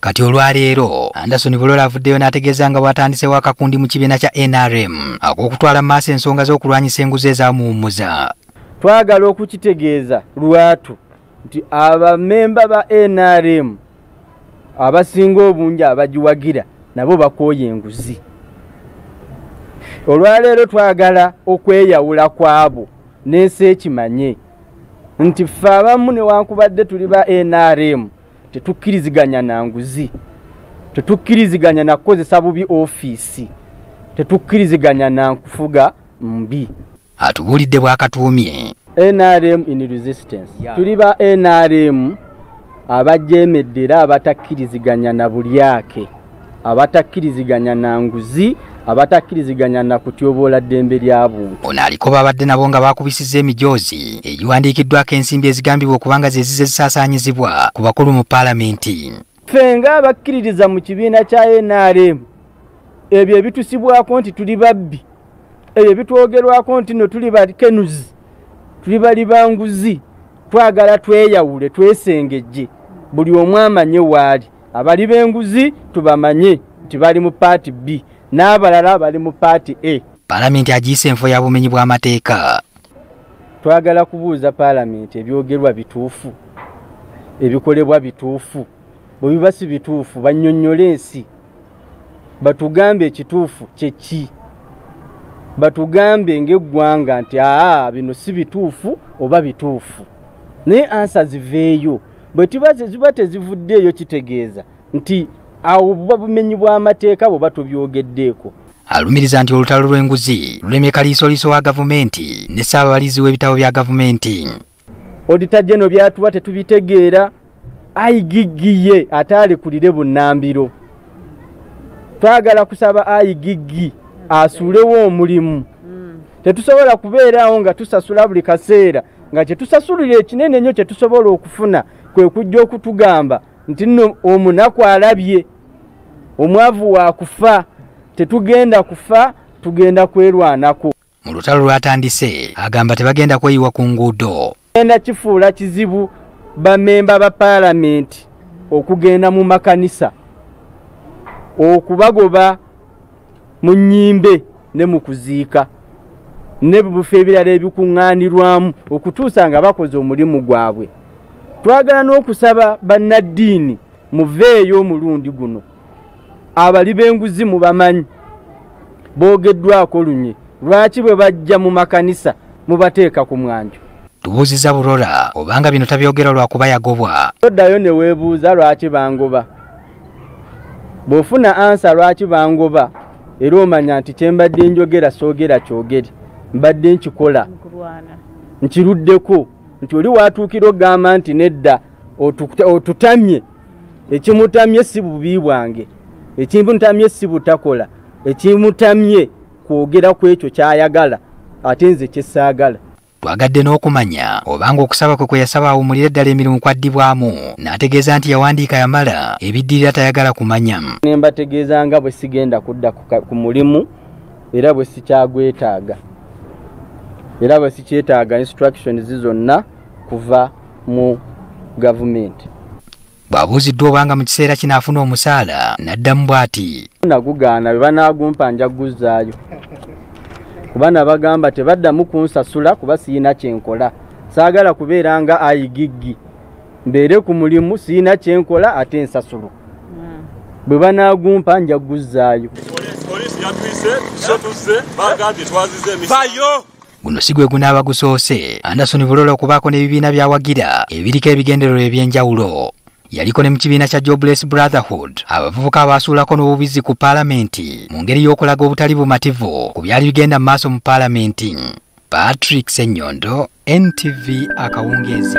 Kati olwaleero Anderson Bulola avuddeyo n'ategeeza nga bw'atandisewo akakundi mu kibiina kya NRM ak'okutwala mu maaso ensonga z'okulwanyisa enguzi ezamuwummuza. Twagala okukitegeeza lwatu nti abamemba ba NRM abasinga obungi abagiwagira nabo bakooye enguzi. Olwaleero twagala okweyawula kwabo n'ensi ekimanye nti ffe abamu newankubadde tuli ba NRM tetukkiriziganya na nguzi tetukkiriziganya na kukozesa bubi ofiisi tetukkiriziganya na nkufuga mbi atubuulidde bwakatuumye nrm in resistance tuli ba nrm abajeemedde era abatakkiriziganya na bulyake abatakkiriziganya na nguzi abatakkiriziganya na kutyoboola ddembe lya buntu ono aliko baabadde nabo nga baakubisizza emijoozi egiwandiikiddwako ensimbi ezigambibwa okuba nga zezize zisaasaanyizibwa ku bakulu mu paalamenti ffe nga abakkiririza mu kibiina kya nrm ebyo ebitusibwako nti tuli babbi ebyo ebitwogerwako nti no tuli bakenuzi tuli bali banguzi twagala tweyawule twesengejje buli omu amanye waali abali b'enguzi tubamanye nti bali mu paati b n'abalala bali mu paati a palamenti agiyise enfo ya bumenyi bw'amateeka twagala kubuuza palamenti ebyogerwa bituufu ebikolebwa bituufu bwe biba si bituufu bannyonnyole ensi batugambe ekituufu kyeki batugambe ng'eggwanga nti aa bino si bituufu oba bituufu naye ansa ziveeyo bwe tuba ziba tezivuddeeyo kitegeeza nti awo buba bumenyi bw'amateeka bwe batubyogeddeeko alumiriza nti olutalo lw'enguzi lulemye kaliisoliiso wa gavumenti ne ssaababalizi w'ebitabo bya gavumenti odita geno byatuba tetubitegeera aigiggiye ate alekulire bunnambiro twagala kusaba aigiggi asuulewo omulimu tetusobola kubeeraawo nga tusasula buli kaseera nga kyetusasulira ekinene ennyo kyetusobola okufuna kwe kujja okutugamba nti nno omunaku alabye omwavu wa kufa tetugenda kufa tugenda kwerwanako mu lutalo lwatandise agamba tebagenda kweyiwa ku nguudo genda kifuula kizibu bamemba ba paalamenti okugenda mu makanisa okubagoba mu nnyimbe ne mu kuziika nebibufa ebirala ebikuŋŋaanirwamu okutuusa nga bakoze omulimu gwabwe twagala n'okusaba bannaddiini muveeyo omulundi guno abali b'enguzi mu bamanyi boogeddwako lunye lwaki bwe bajja mu makanisa mubateeka ku mwanjo tubuuziza burora obanga bino tabyogera lwakuba yagobwa toddayo ne weebuuza lwaki bangoba bw'ofuna ansa lwaki bangoba era omanya nti kye mbadde njogera soogera kyogere mbadde nkikola nkiruddeko nti oli waatuukira okugamba nti nedda otutamye ekimutamye si bubi bwange ekimutamye si butakola ekimutamye kwogera ku ekyo ky'ayagala ate nze kyesaagala Twagadde n'okumanya obanga okusaba kwe kwe yasaba awumulire ddala emirimu kwaddibwamu n'ategeeza nti yawandiika yamala ebiddirira tayagala kumanya. Ne mbategeeza nga bwe sigenda kudda ku mulimu era bwe sikyagwetaaga era bwe sikyetaaga instructions zonna kuva mu gavumenti. bw'abuuziddwa obanga mu kiseera kino afuna omusaala n'addamu bw'ati nagugaana bwe banaagumpa nja kuguzzaayo kuba nabagamba tebaddamu kunsasula kuba siyina kyenkola saagala kubeera nga ayigiggi mbeere ku mulimu siyina kyenkola ate ensasulo hmm. bwe banaagumpa nja kuguzzaayo guno si gwe gunaaba gusoose anderson bulola okubaako n'ebibiina by'awagira ebiriko ebigendererwa eby'enjawulo yaliko ne mu kibiina kya jobless brotherhood abavubuka abaasuulako n'obubizzi ku paalamenti mu ngeri y'okulaga obutali bumativu ku byali bigenda mu maaso mu paalamenti patrick senyondo ntv akawungeezi